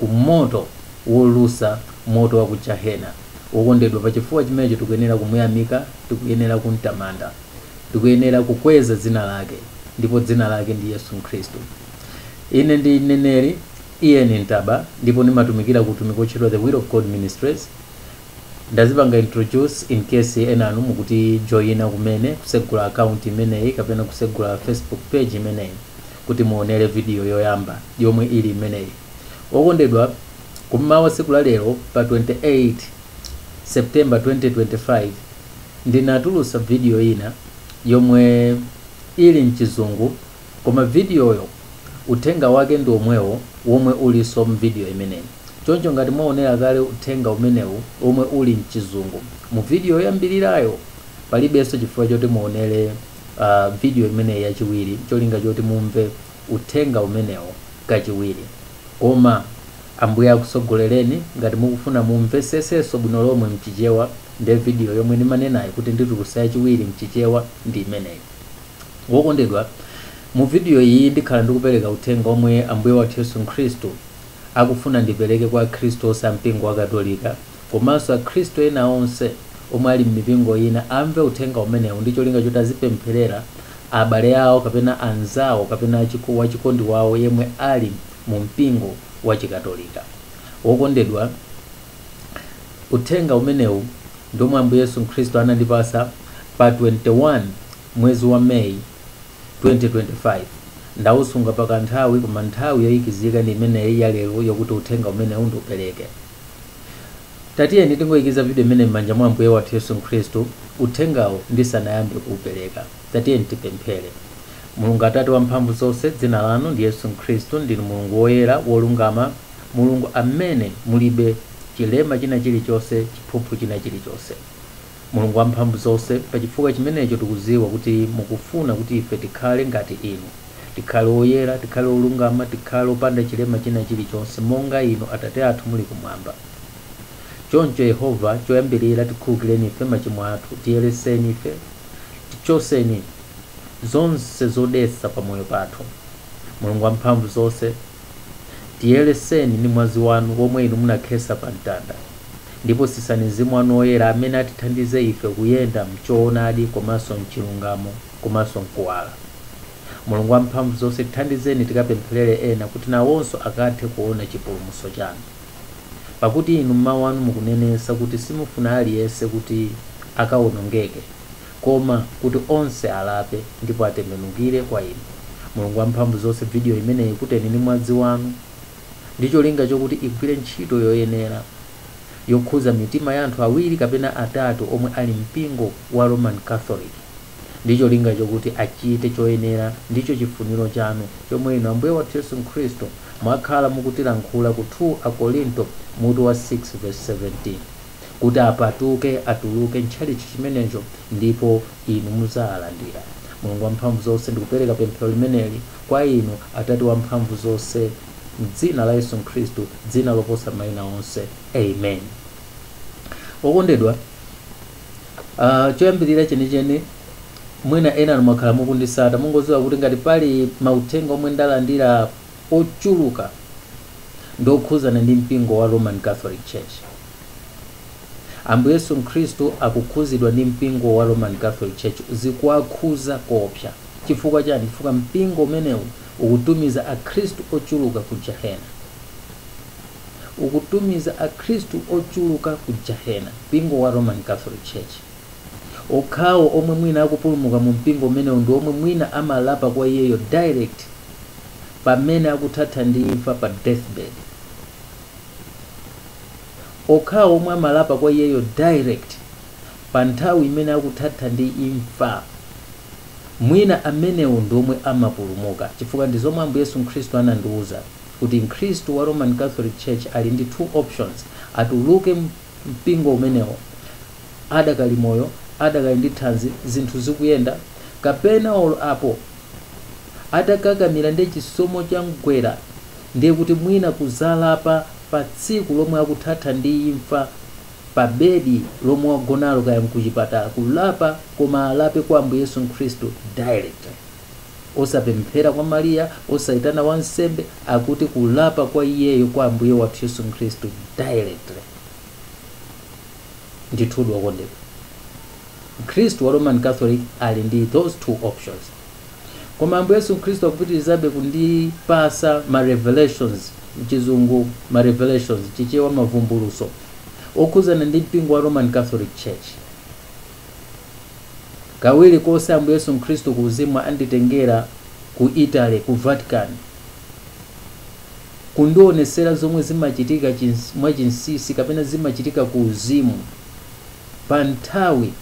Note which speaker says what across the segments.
Speaker 1: ku moto wolusa, moto wa ku jahena. Wokondedwa, pa chifukwa chimenecho tikuyenera kumuyamika, tikuyenera kumtamanda. Tikuyenera kukweza dzina lake, ndipo dzina lake ndi Yesu Khristu. Ine ndi mneneri Ian Ntaba ndipo ndimatumikira ku utumiki wotchedwa The Will of God Ministries. Ndazipanga introduce in case ena inu mukutijoina kumene kusegula account imeneyi kapena kusegula Facebook page imeneyi. kuti muonere vidiyo yoyamba yomwe ili imeneyi. Okondedwa, kum'mawa tsiku la lero pa 28 September 2025, ndinatulutsa vidiyo ina yomwe ili m'Chizungu koma vidiyoyo uthenga wake ndi womwewo womwe ulinso m'vidiyo imeneyi. Choncho ngati mwaonera kale uthenga umenewu womwe uli m'Chizungu muvidiyo yoyambirirayo, palibenso chifukwa choti muonere vidiyo imeneyi yachiwiri n'cholinga choti mumve uthenga umenewo kachiwiri. Koma Ambuye akutsogolereni. Ngati mukufuna mumvetsetsenso bwino lomwe m'Chichewa, ndi vidiyo yomwe ndimanenayi kuti nditulutsa yachiwiri m'Chichewa ndi imeneyi. Wokondedwa, mu vidiyo iyi ndikhala ndikupereka uthenga womwe Ambuye wathu Yesu Khristu akufuna ndipereke kwa Akhristu onse a Mpingo wa Katolika. komanso akhristu ena onse omwe ali m'mipingo ina amve uthenga umenewu ndi cholinga choti azipempherera abale awo kapena anzawo kapena wachikondi wawo yemwe ali mu mpingo wa Chikatolika. Wokondedwa, uthenga umenewu ndi omwe Ambuye Yesu Khristu anandipatsa pa 21 mwezi wa May 2025. Ndawusunga pa kanthawi koma nthawi yoyikizika ndi imeneyi ya lero yokuti uthenga umenewu ndiupereke. Tatiyeni tingoikiza vidiyo imene m'manja mwa Ambuye wathu Yesu Khristu uthengawu ndisanayambe kuupereka. Tatiyeni tipemphere. Mulungu Atate wamphamvu zonse, dzina lanu ndi Yesu Khristu. Ndinu Mulungu woyera, wolungama, Mulungu amene mulibe chilema china chilichonse, chiphuphu china chilichonse. Mulungu Wamphamvuzonse, pa chifukwa chimenecho tikudziwa kuti mukufuna kuti ife tikhale ngati Inu, tikhale oyera, tikhale olungama, tikhale opanda chilema china chilichonse, monga Inu, Atate athu, muli Kumwamba. Choncho, Yehova, choyambirira tikhululukireni ife machimo athu, tiyeretseni ife, tichotseni zonse zodetsa pa moyo pathu. Mulungu Wamphamvuzonse. Tiyeleseni ndi mwazi wanu womwe inu munakhesa pa mtanda. Ndipo sisani Mzimu wanu Woyera amene atithandize ife kuyenda mchoonadi komanso mchilungamo komanso mkuwala. Mulungu wa mphamvu zonse tithandizeni tikapemphelere ena kuti nawonso akathe kuona chipulumutso chanu. Pakuti inu m'mau anu mukunenensa kuti simufuna aliyense kuti akawonongeke. Koma kuti onse alape ndipo atembenukire kwa inu. Mulungu wamphamvu zonse video imeneyi ikuteni ndi mwazi wanu ndi cholinga chokuti igwire ntchito yoyenera yokhuza mitima ya anthu awiri kapena atatu omwe ali mpingo wa Roman Catholic ndi cholinga chokuti achite choyenera ndicho chifuniro chanu chomwe inu Ambuye wathu Yesu Khristu mwakhala mukutilankhula ku 2 Akorinto mutu wa 6 vesi 17. kuti apatuke, atuluke mtchalitchi chimenecho, ndipo Inu mudzawalandira. Mulungu Wamphamvuzonse, ndikupereka pemphero limeneli kwa Inu, Atate Wamphamvuzonse, m'Dzina la Yesu Khristu, Dzina loposa maina onse. Amen. Okondedwa, ah, choyambirira chenicheni, mwina enanu mwakhala mukundisata, mungoziwa kuti ngati pali mauthenga omwe ndalandira, ochuluka ndi okhuzana ndi mpingo wa Roman Catholic Church. Ambuye Yesu Khristu akukhuzidwa ndi mpingo wa Roman Catholic Church, zikuwakhuza koopsa. Chifukwa chani? Chifukwa mpingo umenewu ukutumiza akhristu ochuluka ku jahena. Ukutumiza akhristu ochuluka ku jahena, mpingo wa Roman Catholic Church. Okhawo omwe mwina akupulumuka mu mpingo umenewu ndi omwe mwina amalapa kwa iyeyo direct pamene akuthatha ndi imfa pa deathbed. Okhawo omwe amalapa kwa iyeyo direct pa nthawi imene akuthatha ndi imfa mwina amenewo ndi omwe amapulumuka chifukwa ndi zomwe Ambuye Yesu Khristu anandiuza kuti Mkhristu wa Roman Catholic Church ali ndi two options, atuluke mu mpingo umenewo adakali moyo, adakali ndi thanzi, zinthu zikuyenda, kapena olo apo, atakakamira nde chisomo chamgwera ndiye kuti mwina kuzalapa pa tsiku lomwe akuthatha ndi imfa pa bedi lomwe wagonalo kaya mkuchipatala kulapa koma alape kwa Ambuye Yesu Khristu directly osapemphera kwa Maria osaitana wansembe akuti kulapa kwa iyeyo kwa Ambuye wathu Yesu Khristu directly Ndithudi, wokondedwa, Mkhristu wa Roman Catholic ali ndi those two options. Koma Ambuye Yesu Khristu akupitirizabe kundipasa ma revelations, mchizungu ma revelations, mchichewa mavumbulutso, okhuzana ndi mpingo wa Roman Catholic Church. Kawiri konse Ambuye Yesu Khristu ku uzimu anditengera ku Italy, ku Vatican. kundionetsera zomwe zimachitika mwachinsinsi kapena zimachitika ku uzimu pa nthawi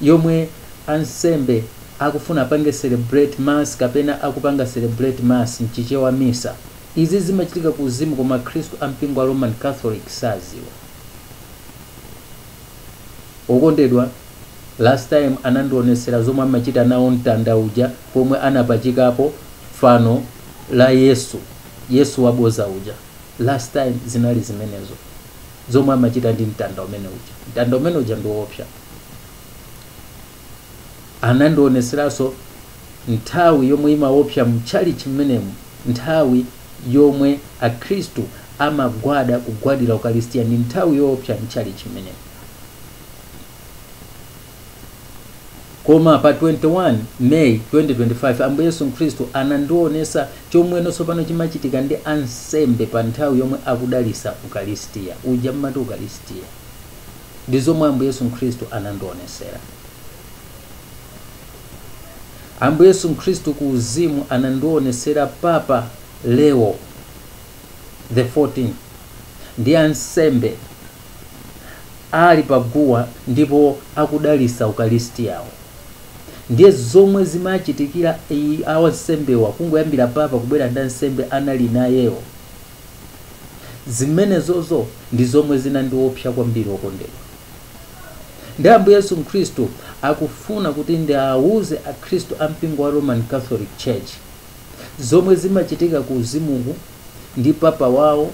Speaker 1: yomwe ansembe akufuna apange celebrate mass kapena akupanga celebrate mass mchichewa misa izi zimachitika ku uzimu koma akhristu a mpingo wa Roman Catholic saziwa okondedwa last time anandionetsera zomwe amachita nawo mtanda uja pomwe anapachikapo fano la Yesu, Yesu waboza uja. Last time zinali zimenezo zomwe amachita ndi mtanda umene uja. Mtanda umene uja ndi woopsa. Anandionetseranso nthawi yomwe imaopsa mtchalichi mmenemu, nthawi yomwe Akhristu amagwada kugwadira Ukalistia ndi nthawi yoopsa mtchalichi mmenemu. koma pa 21 may 2025 ambuye yesu khristu anandionesa chomweno tsopano chimachitika ndi ansembe pa nthawi yomwe akudalisa ukalistia uja mmati ukalistia ndi zomwe ambuye yesu khristu anandionesera ambuye yesu khristu ku uzimu anandionesera papa leo the 14 ndi ansembe ali pa guwa ndipo akudalisa ukalistiyawo. Ndiye zomwe zimachitikira a wansembewa kungoyambira papa kubwera ndi ansembe anali nayewo, zimenezozo ndi zomwe zinandiopsa kwambiri okondedwa. Ndiye Ambuye Yesu Mkhristu akufuna kuti ndiauze akhristu a mpingo wa Roman Catholic Church zomwe zimachitika ku uzimuku ndi papa wawo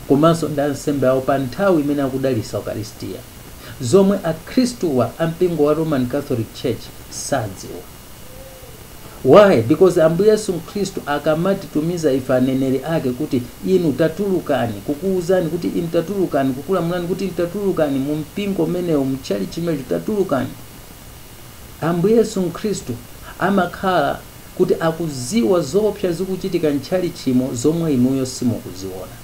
Speaker 1: komanso ndi ansembe awo pa nthawi imene akudalitsa Ukalistia, zomwe akhristuwa a mpingo wa Roman Catholic Church sadziwa. Why? Because Ambuye Yesu Nkhristu akamatitumiza ife aneneri ake kuti inu tatulukani, kukuuzani kuti inu tatulukani, kukulamulani kuti inu tatulukani mu mpingo umenewo, mu tchalitchi chimenecho tatulukani. Ambuye Yesu Nkhristu amakhala kuti akuziwa zoopsa zikuchitika mtchalitchimo zomwe inuyo simukuziona.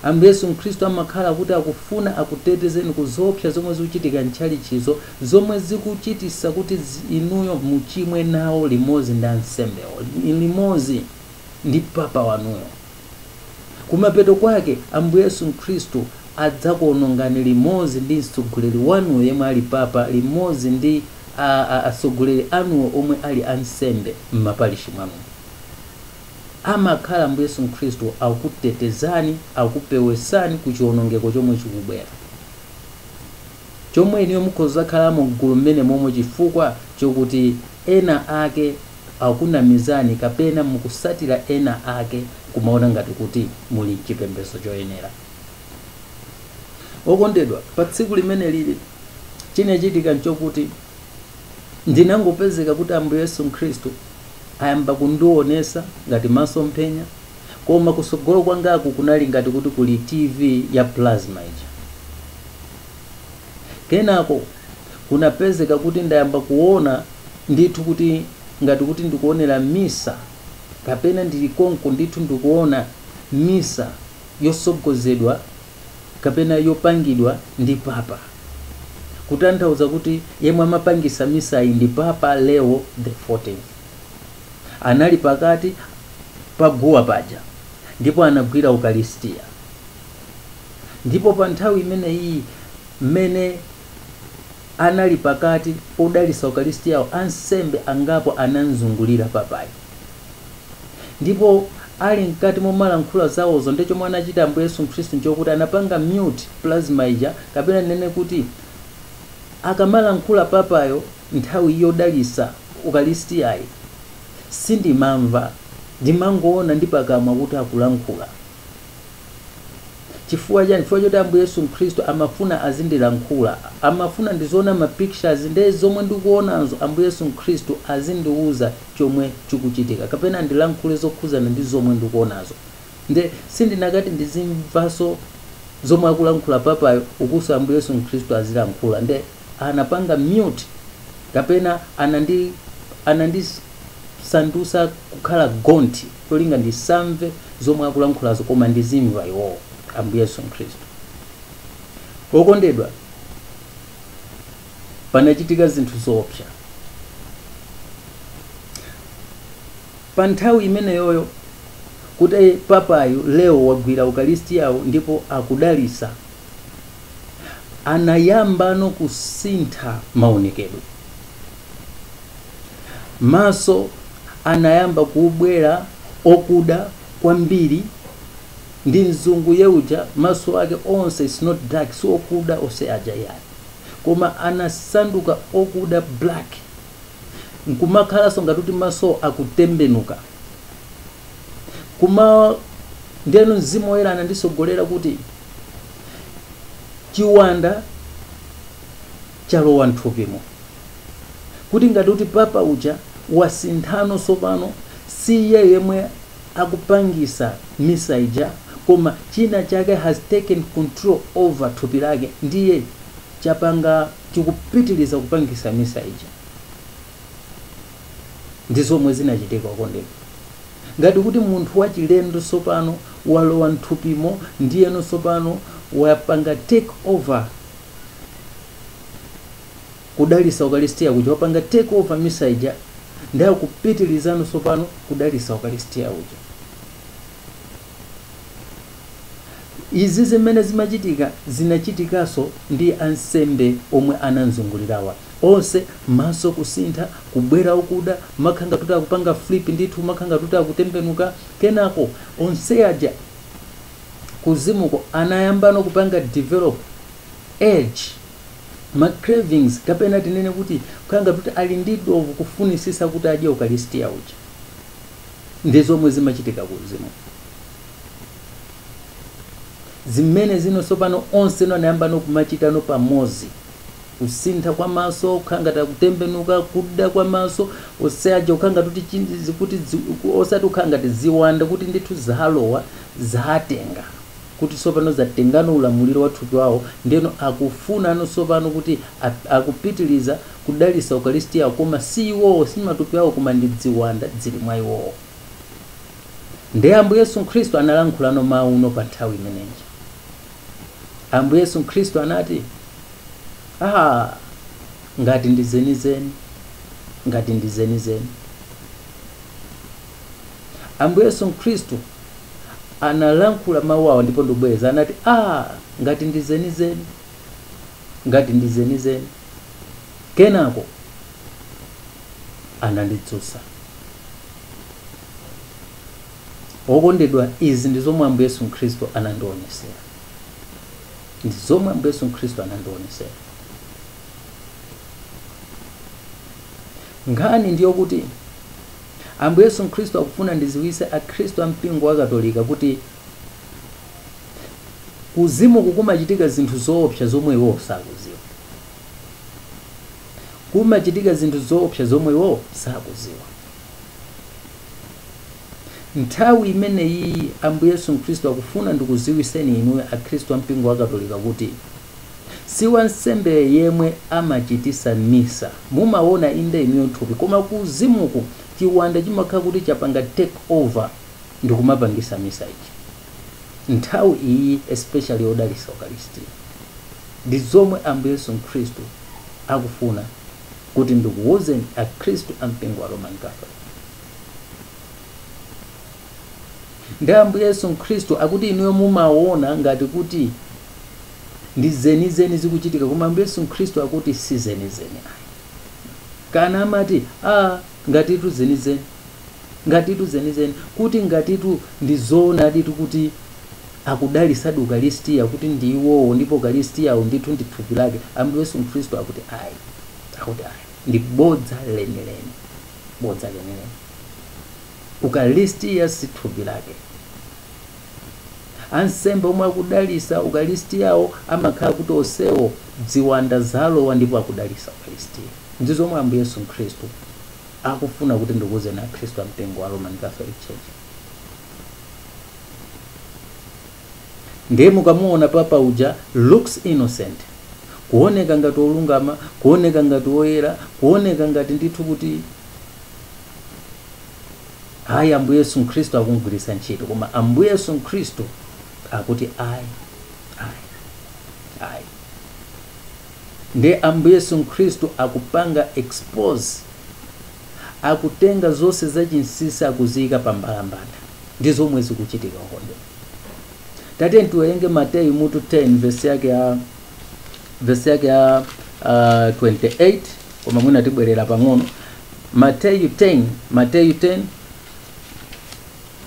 Speaker 1: Ambuye Yesu Mkhristu amakhala kuti akufuna akutetezeni ku zoopsa zomwe zikuchitika mtchalitchizo zomwe zikuchitisa kuti inuyo muchimwe nawo limodzi ndi ansembewo limodzi ndi papa wanuyo. Kumapeto kwake Ambuye Yesu Mkhristu adzakuonongani limodzi ndi mtsogoleri wanuyo yemwe ali papa limodzi ndi a a atsogoleri anuwo omwe ali ansembe mmaparishi mwanumo amakhala Ambuye Yesu Mkhristu akutetezani akupewesani ku chionongeko chomwe chikubwera chomwe inuyo mukhoza kuzakhalamo mgulu mmenemomwe chifukwa chokuti ena ake akunamizani kapena mukusatira ena ake kumaona ngati kuti muli mchipembezo choyenera. okondedwa pa tsiku limenelili chinachitika nchokuti ndinangopezeka kuti ambuye yesu khristu ayamba kundionesa ngati masomphenya koma kusogolo kwangaku kunali ngati kuti kuli tv ya plasma ija kenako kunapezeka kuti ndayamba kuona ndithu kuti ngati kuti ndikuonera misa kapena ndili konko ndithu ndikuona misa yosogozedwa kapena yopangidwa ndi papa, kutanthauza kuti yemwe amapangisa misayi ndi Papa Leo the 14th. Anali pakati pa guwa paja ndipo anagwira ukalistia. Ndipo pa nthawi imeneyiyi mmene anali pakati podalisa ukalistiyawo ansembe angapo anamzungulira papayo. Ndipo ali mkati momalankhula zawozo nde chomwe anachita Ambuye Yesu Mkhristu nchokuti anapanga mute plasma ija kapena ndinene kuti akamalankhula papayo nthawi yodalisa ukalistiyayi sindimamva ndimangowona ndi pakamwa kuti akulankhula. chifukwa chani chifukwa choti ambuye yesu mkhristu amafuna azindilankhula amafuna ndiziona ma pictures nde zomwe ndikuonazo ambuye yesu mkhristu azindiuza chomwe chikuchitika kapena ndilankhule zokhuzana ndi zomwe ndikuonazo nde sindinakati ndizimvaso zomwe akulankhula papayo ukuso ambuye yesu mkhristu azilankhula nde anapanga mute kapena anandi anandisandusa kukhala gonthi cholinga ndisamve zomwe akulankhulazo koma ndizimva iwowo, Ambuye Yesu Khristu. Okondedwa, panachitika zinthu zoopsa pa nthawi imeneyoyo kuti papayu Leo wagwira ukalistiyawo ndipo akudalisa anayambano kusintha maonekedwe Maso anayamba kubwera okuda kwambiri ndi mzungu yeuja maso ake onse it's not dark si okuda onse aja yayi koma anasanduka okuda black nkumakhalanso ngati kuti maso akutembenuka kumawo ndeno mzimu woyera anandisogolera kuti chiwanda chalowa mthupimo. Kuti ngati kuti papa uja wasinthano sopano si iye yemwe akupangisa misa ija koma china chake has taken control over thupi lake ndiye chapanga chikupitiliza kupangisa misa ija. Ndi zomwe zinachitika okondedwa. Ngati kuti munthu wachilendo sopano walowa mthupimo ndiyeno sopano wapanga take over kudalisa ukalistia kuja wapanga take over misa ija ndiye akupitilizano sopano kudalisa ukalistia uja izi zimene zimachitika zinachitikaso ndi ansembe omwe anamzungulirawa onse maso kusintha kubwera okuda kumakhala ngati akupanga flip ndithu kumakhala ngati akutembenuka kenako onse aja kuzimuku anayambano kupanga develop urge ma cravings kapena tinene kuti kukhala ngati kuti ali ndi dovu kufunisisa kuti adye ukalistia uja ndi zomwe zimachitika kuzimuku zimene zino sopano onse anayambano kumachitano pamozi kusintha kwa maso kukhala ngati akutembenuka kuda kwa maso onse aja kukhala ngati kuti chi- zikuti dzi- ku- osati kukhala ngati ziwanda kuti ndithu zalowa zatenga kuti sopano zatengano ulamuliro wa thupi wawo ndeno akufunano sopano kuti a- akupitiliza kudalisa ukalisitiyawo koma si iwowo si matupi awo koma ndi dziwanda dzili mwa iwowo Ndiye Ambuye Yesu Khristu analankhulano mawuno pa nthawi imeneyi. Ambuye Yesu Khristu anati, ah, ngati ndi zenizeni, ngati ndi zenizeni. Ambuye Yesu Khristu analankhula mawu awo ndipo ndibwereza anati, ah, ngati ndi zenizeni, ngati ndi zenizeni. kenako anandidzusa okondedwa izi ndi zomwe ambuye yesu khristu anandionesera ndi zomwe ambuye yesu khristu anandionesera nkhani ndi yokuti ambuye yesu khristu akufuna ndiziwise akhristu a mpingo wa katolika kuti Kuzimuku kumachitika zinthu zoopsa zomwe iwowo sakuziwa. Kumachitika zinthu zoopsa zomwe iwowo sakuziwa. Nthawi imeneyiyi Ambuye Yesu Mkhristu akufuna ndikuziwiseni inuyo Akhristu a mpingo wa Katolika kuti si wansembe yemwe amachitisa misa. Mumawona inde inuyo thupi koma kuzimuku chiwanda chimakhala kuti chapanga take over. ndikumapangisa misa ija nthawi iyi especially yodalisa ukalistia ndi zomwe ambuye yesu mkhristu akufuna kuti ndikuwuzeni akhristu a mpingo wa roman catholic ndi ambuye yesu mkhristu akuti inuyo mumawona ngati kuti ndi zenizeni zikuchitikazo koma ambuye yesu mkhristu akuti si zenizeni ayi kana amati a ngatitu zenizeni ngatitu zenizeni kuti ngatitu ndi zoonaditu kuti akudalisadi ukalistia kuti ndi iwowo ndipo ukalistiawo ndithu ndi thupi lake ambuye yesu mkhristu akuti ayi akuti ayi ndi bodza lenileni bodza lenileni ukalistia si thupi lake ansembe omwe akudalisa ukalistiawo amakhala kuti onsewo ziwanda zalowa ndipo akudalisa ukalistia ndi zomwe ambuye yesu mkhristu akufuna kuti ndikuuzeni akhristu a mpingo wa roman catholic church ndiye mukamuona papa uja looks innocent kuoneka ngati olungama kuoneka ngati oyera kuoneka ngati ndithu kuti ayi ambuye yesu mkhristu akumgwiritsa ntchito koma ambuye yesu mkhristu akuti ayi ayi ayi Ndiye Ambuye Yesu Mkhristu akupanga expose, akutenga zonse zachinsinsi akuziyika pa mbalambanda. Ndi zomwe zikuchitika okondedwa. Tatiyeni tiwerenge Mateyu mutu 10 vesi yake ya vesi yake ya uh, 28 koma mwina tibwerera pang'ono. Mateyu 10, Mateyu 10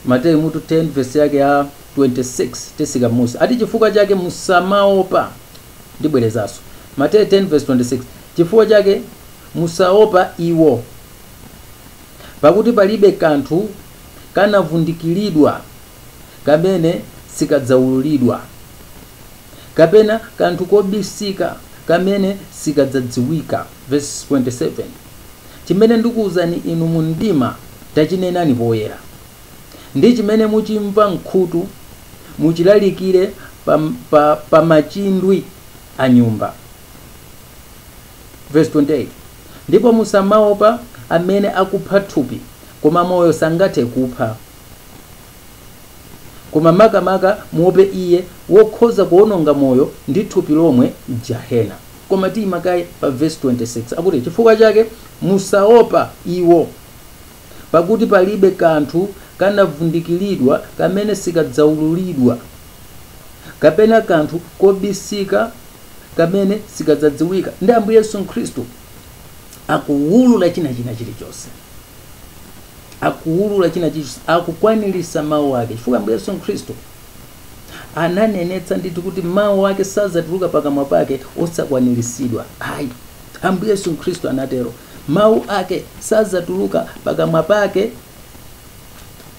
Speaker 1: Mateyu mutu 10 vesi yake ya 26 titsika munsi ati chifukwa chake musamaopa Ndibwerezanso, Mateyu 10-26, Chifukwa chake musaopa iwo, pakuti palibe kanthu kanavundikiridwa kamene sikadzaululidwa, kapena kanthu kobisika kamene sikadzadziwika, vesi 27, Chimene ndikuuzani inu mu mdima, tachinenani poyera. ndi chimene muchimva m'khutu muchilalikire pa, pa, pa machindwi a nyumba verse 28 ndipo musamaopa amene akupha thupi koma moyo sangathe kuupha koma makamaka muope iye wokhoza kuononga moyo ndi thupi lomwe m'gehena koma tiyimakaye pa verse 26 akuti chifukwa chake musaopa iwo Pakuti palibe kanthu kanavundikiridwa kamene sikadzaululidwa, kapena kanthu kobisika kamene sikadzadziwika. Ndi Ambuye Yesu Khristu akuwulula china china chilichonse, akuwulula china chilichonse, akukwaniritsa mawu ake, chifukwa Ambuye Yesu Khristu ananenetsa ndithu kuti mawu ake sadzatuluka pakamwa pake osakwaniritsidwa ayi. Ambuye Yesu Khristu anatero, Mawu ake sadzatuluka pakamwa pake,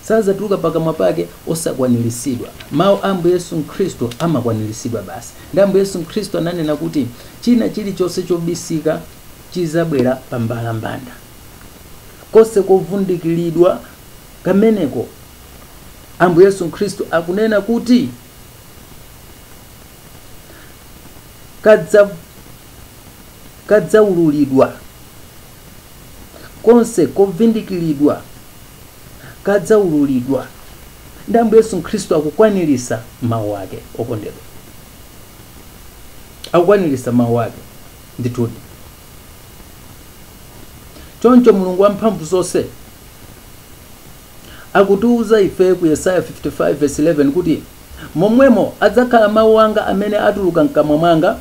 Speaker 1: sadzatuluka pakamwa pake osakwaniritsidwa. Mawu a Ambuye Yesu Khristu amakwaniritsidwa basi. Ndi Ambuye Yesu Khristu ananena kuti china chilichonse chobisika chidzabwera pa mbalambanda. Konse kovundikiridwa kameneko, Ambuye Yesu Khristu akunena kuti kadzaululidwa, konse kovindikiridwa kadzaululidwa. Ndi Ambuye Yesu Khristu akukwanirisa mawu ake okondedwa, akukwanirisa mawu ake ndithudi. Choncho Mulungu wamphamvu zonse Akutiuza ife ku Yesaya 55 vesi 11 kuti, Momwemo adzakhala mau anga amene atuluka m'kamwa mwanga,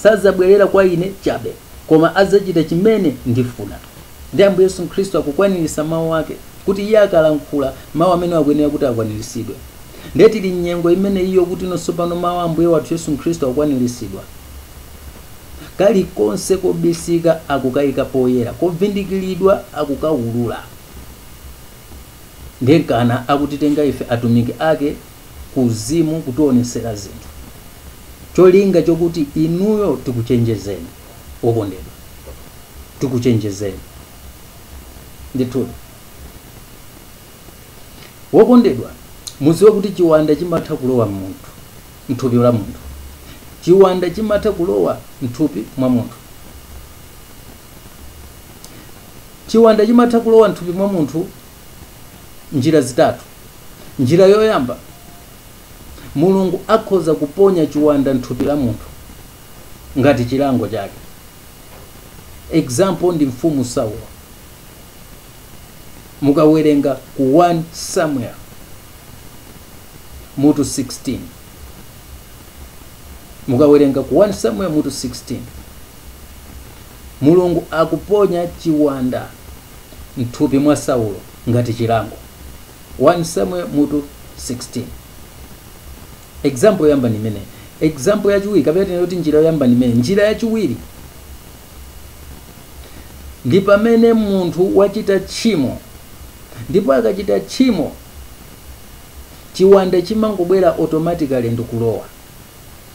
Speaker 1: sadzabwerera kwa Ine chabe, koma adzachita chimene ndifuna. Ndiye Ambuye Yesu Khristu akukwaniritsa mau ake, kuti Iye akalankhula, mau amenewo akuyenera kuti akwaniritsidwe. Ndiye tili m'nyengo imene iyo kuti ino tsopano mau a Ambuye wathu Yesu Khristu akukwaniritsidwa. Kalikonse kobisika akukaika poyera, kovindikiridwa akukaulula. ndiye n'kana akutitenga ife atumiki ake kumzimu kutionesera zinthu cholinga chokuti inuyo tikuchenjezeni wokondedwa tikuchenjezeni ndithudi wokondedwa muziwe kuti chiwanda chimatha kulowa munthu mthupi la munthu chiwanda chimatha kulowa mthupi mwa munthu Chiwanda chimatha kulowa m'thupi mwa munthu m'njira zitatu. Njira yoyamba, Mulungu akhoza kuponya chiwanda m'thupi la munthu ngati chilango chake. Example ndi Mfumu Saulo. Mukawerenga ku 1 Samuel mutu 16. Mukawerenga ku 1 Samuel mutu 16. Mulungu akuponya chiwanda mthupi mwa Saulo ngati chilango, 1 Samuel mutu 16. Example yoyamba ndi imeneyi. Example yachiwiri kapena tinene kuti njira yoyamba ndi imeneyi. Njira yachiwiri ndi pamene munthu wachita tchimo ndipo akachita tchimo chiwanda chimangobwera automatically ndikulowa.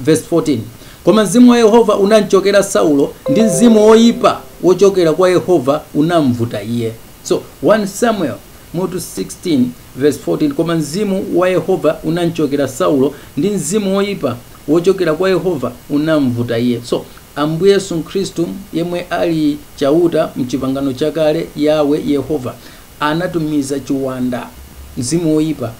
Speaker 1: Verse 14, Koma mzimu wa Yehova unamcokera Saulo, ndi mzimu woipa wocokera kwa Yehova unambvuta iye. So, 1 Samuel mutu 16 verse 14, Koma mzimu wa Yehova unamcokera Saulo, ndi mzimu woipa wocokera kwa Yehova unambvuta iye. So, Ambuye Yesu Khristu, yemwe ali Chauta m'Chipangano Chakale, Yahweh, Yehova, anatumiza chiwanda, mzimu woipa,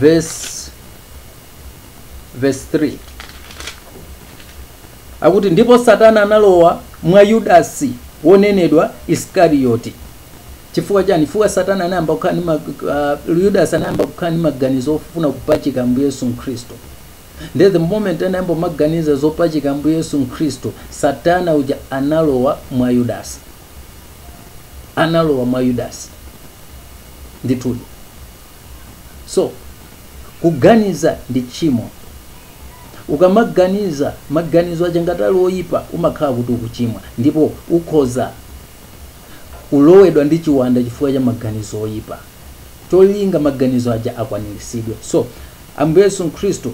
Speaker 1: verse verse 3 akuti ndipo satana analowa mwa yudasi wonenedwa iskariyoti chifukwa chani chifukwa satani anayamba kukhala ndi mag- uh, yudasi anayamba kukhala ndi maganizo ofuna kupachika mbuye yesu mkhristu nde the moment anayamba kumaganiza zopachika mbuye yesu mkhristu satana uja analowa mwa yudasi analowa mwa Yudasi ndithudi. So kuganiza ndi tchimo. Ukamaganiza maganizo aja ngati ali oyipa umakhala kuti ukuchimwa ndipo ukhoza kulowedwa ndi chiwanda chifukwa cha maganizo oyipa. Cholinga maganizo aja akwaniritsidwe. So Ambuye Yesu Khristu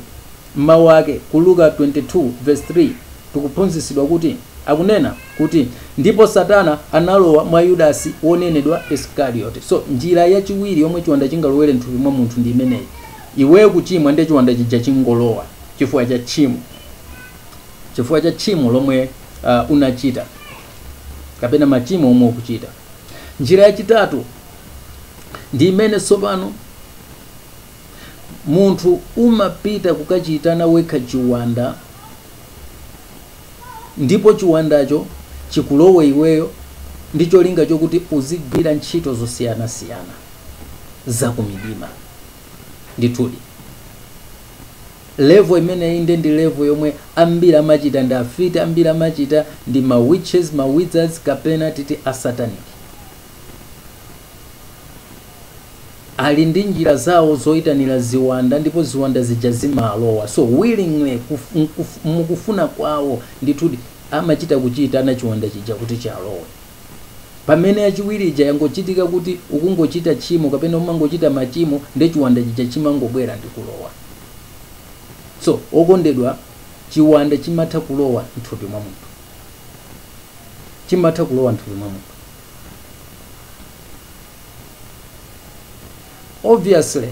Speaker 1: M'mau ake, ku Luka 22 verse 3, tikuphunzitsidwa kuti, Akunena, kuti, ndipo Satana analowa mwa Yudasi wonenedwa Iskariote. So, njira yachiwiri yomwe chiwanda chingalowere m'thupi mwa munthu ndi imeneyi. Iweyo kuchimwa ndiye chiwanda chija chingolowa chifukwa cha tchimo, chifukwa cha tchimo lomwe uh, unachita kapena machimo omwe ukuchita. Njira yachitatu ndi imene tsopano Munthu umapita kukachiitana wekha chiwanda, ndipo chiwandacho chikulowe iweyo ndi cholinga chokuti uzigwira ntchito zosiyanasiyana za kumidima. Ndithudi, level imeneyi nde ndi level yomwe ambiri amachita ndi afiti, ambiri amachita ndi ma witches, ma wizards kapena titi asatanic. ali ndi njira zawo zoitanira ziwanda ndipo ziwanda zija zimalowa so willingly mukufuna kwawo ndithudi amachita kuchiitana chiwanda chija kuti chalowe pamene yachiwiri ija yangochitika kuti ukungochita tchimo kapena umangochita machimo nde chiwanda chija chimangobwera ndi kulowa so okondedwa chiwanda chimatha kulowa mthupi mwa munthu chimatha kulowa mthupi mwa munthu obviously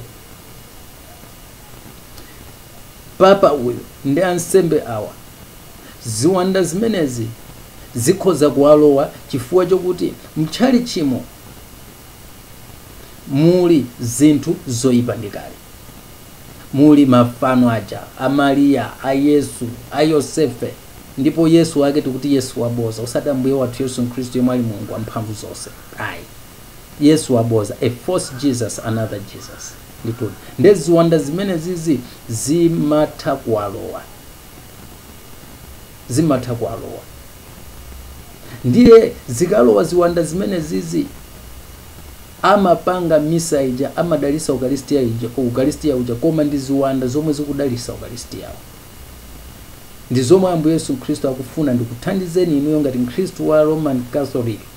Speaker 1: papa uyu ndi ansembe awa ziwanda zimenezi zikhoza kuwalowa chifukwa chokuti mtchalitchimo muli zinthu zoyipa ndi kale muli mafano aja a maria a yesu a yosefe ndipo yesu wake tikuti yesu waboza osati ambuye wathu yesu khristu yemwe ali mulungu wamphamvu zonse ayi yesu waboza a false jesus another jesus ndithudi nde ziwanda zimenezizi zimatha kuwalowa zimatha kuwalowa ndiye zikalowa ziwanda zimenezizi amapanga misa ija amadalisa ukalistia uja koma ndi ziwanda zomwe zikudalisa ukalistiawo ndi zomwe ambuye yesu khristu akufuna ndikuthandizeni inuyo ngati mkhristu wa roman catholic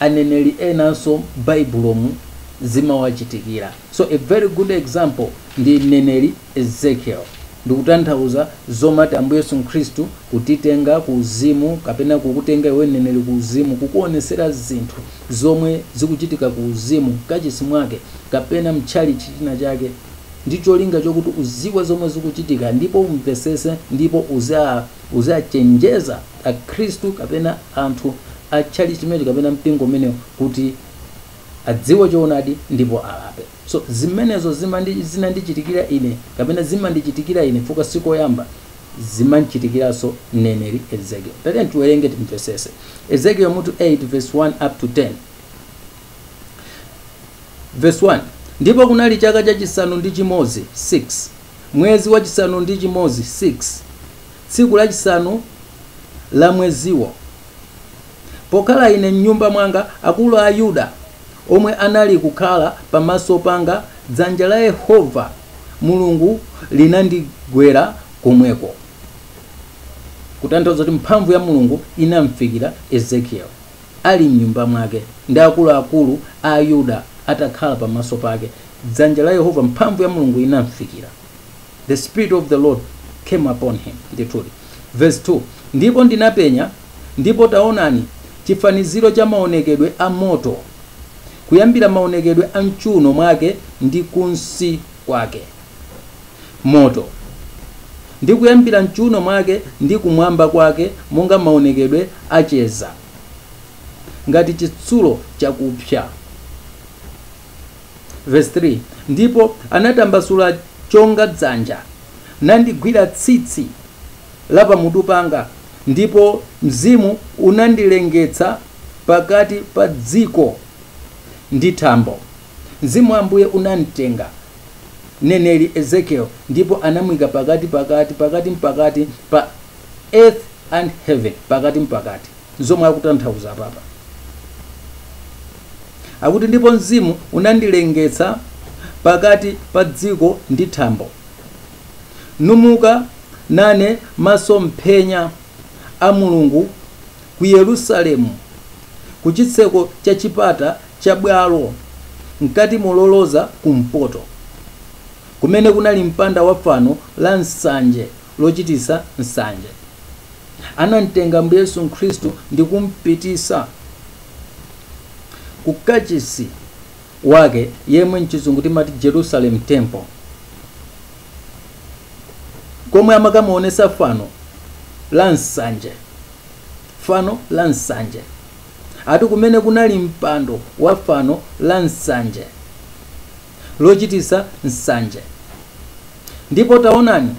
Speaker 1: aneneri enanso m'baibulomu zimawachitikira. So a very good example ndi mneneri Ezekiel. Ndikutanthauza zomati Ambuye Yesu Khristu kutitenga ku uzimu kapena kukutenga iwe mneneri ku uzimu kukuonesera zinthu zomwe zikuchitika ku uzimu mkachisi mwake kapena mtchalitchi china chake ndi cholinga chokuti uziwe zomwe zikuchitika ndipo umvesese ndipo uziwachenjeza Akhristu kapena anthu a tchalitchi chimenecho kapena mpingo umenewo kuti adziwe choonadi ndipo alape. So, zimenezo zinandichitikira ine kapena zimandichitikira ine chifukwa si koyamba, zimam'chitikiranso mneneri Ezekieli. Tiyeni tiwerenge timvesese. Ezekieli mutu 8 vesi 1 up to 10. Verse 1 Ndipo kunali chaka chachisanu ndi chimodzi, 6 mwezi wachisanu ndi chimodzi, 6 tsiku lachisanu la mweziwo, pokhala ine m'nyumba mwanga, akulu a Yuda omwe anali kukhala pamaso panga, dzanja la Yehova Mulungu linandigwera komweko. Kutanthauza kuti mphamvu ya Mulungu inamfikira Ezekieli. ali m'nyumba mwake, ndi akuluakulu a Yuda atakhala pamaso pake, dzanja la Yehova, mphamvu ya Mulungu inamfikira. The Spirit of the Lord came upon him. Ndithudi. Verse 2 Ndipo ndinapenya, ndipo taonani, chifaniziro cha maonekedwe a moto, kuyambira maonekedwe a m'chuuno mwake ndi kunsi kwake. moto, ndi kuyambira m'chuuno mwake ndi kumwamba kwake monga maonekedwe a cheza, ngati chitsulo chakupsa. Verse 3 Ndipo anatambasula chonga dzanja, nandigwira tsitsi la pamutu panga, ndipo mzimu unandilengetsa pakati pa dziko ndi thambo. Mzimu wa Ambuye unamtenga mneneri Ezekiel ndipo anamuika pakati, pakati, pakati mpakati pa earth and heaven, pakati mpakati. Nzomwe akutanthauza apapa. Akuti ndipo mzimu unandilengetsa pakati pa dziko ndi thambo, numuka nane masomphenya a Mulungu ku Yerusalemu, ku chitseko cha chipata cha bwalo mkati moloza kumpoto, kumene kunali mpanda wa fano la nsanje lochitisa nsanje. Anamtenga Ambuye Yesu Khristu ndi kumpitisa ku kachisi wake yemwe mchizungu timati Jerusalem Temple, komwe amakamuonesa fano la nsanje, fano la nsanje. ati kumene kunali mpando wa fano la nsanje, lochitisa nsanje. Ndipo taonani,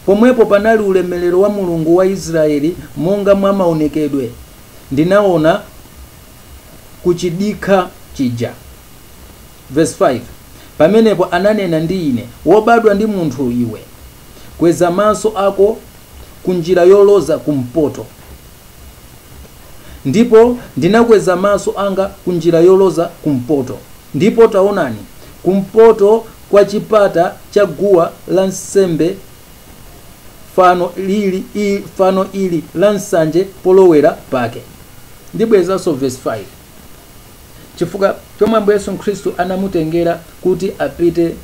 Speaker 1: pomwepo panali ulemerero wa Mulungu wa Israyeli monga mwa maonekedwe ndinaona kuchidikha chija. Verse 5 Pamenepo ananena ndi ine, Wobadwa ndi munthu iwe, kweza maso ako ku njira yoloza kumpoto. Ndipo ndinakweza maso anga ku njira yoloza kumpoto, ndipo taonani, kumpoto kwa chipata cha guwa la nsembe fano lili, i, fano ili la nsanje polowera pake. Ndibwerezanso verse 5 chifukwa chomwe Ambuye Yesu Khristu anamutengera kuti apite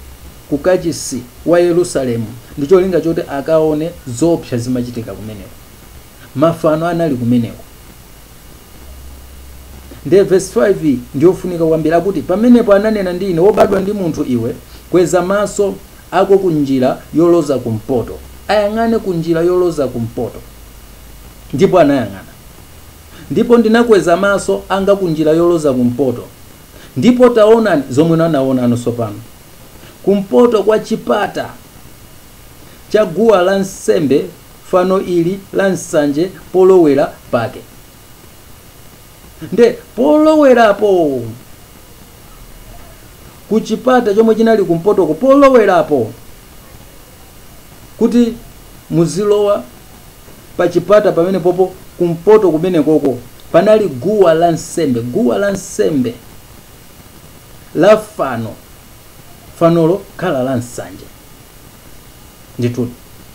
Speaker 1: ku kachisi wa Yerusalemu ndi cholinga choti akaone zoopsa zimachitika kumeneko. mafano anali kumeneko. Ndiye verse 5 iyi ndiyofunika kwambiri, akuti pamenepo ananena ndi ine, wobadwa ndi munthu iwe, kweza maso ako ku njira yoloza kumpoto, ayang'ane ku njira yoloza kumpoto. Ndipo anayang'ana, ndipo ndinakweza maso anga ku njira yoloza kumpoto, ndipo taonani zomwe anaonano tsopano, kumpoto kwa chipata cha guwa la nsembe fano ili la nsanje polowera pake nde polowerapo ku chipata chomwe chinali kumpotoko polowerapo kuti muzilowa pa chipata pamene popo kumpoto kumene koko panali guwa la nsembe guwa la nsembe la fano fanolo kukhala la nsanje ndithudi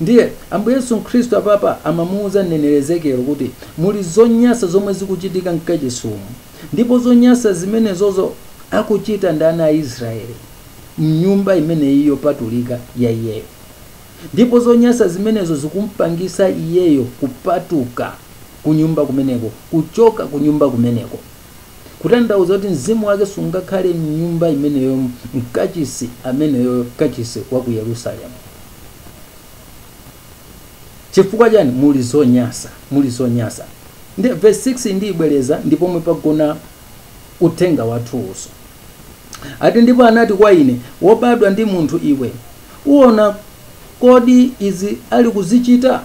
Speaker 1: Ndiye, Ambuye Yesu Khristu apapa amamuwuza mneneri Ezekieli kuti, Muli zonyansa zomwe zikuchitika mkachisimu, ndipo zonyansa zimenezozo akuchita ndi ana a Israeli, mnyumba imeneyi yopatulika ya iyeyo. Ndipo zonyansa zimenezo zikumpangitsa iyeyo kupatuka kunyumba kumeneko, kuchoka kunyumba kumeneko. kutanthauza kuti mzimu wake sungakhale m'nyumba imeneyo mkachisi ameneyo kachisi wa ku yerusalemu chifukwa chani muli zonyasa muli zonyasa nde verse 6 ndiibwereza ndipomwe pagona uthenga wathuwuso ati ndipo anati kwa ine wobadwa ndi munthu iwe uona kodi izi ali kuzichita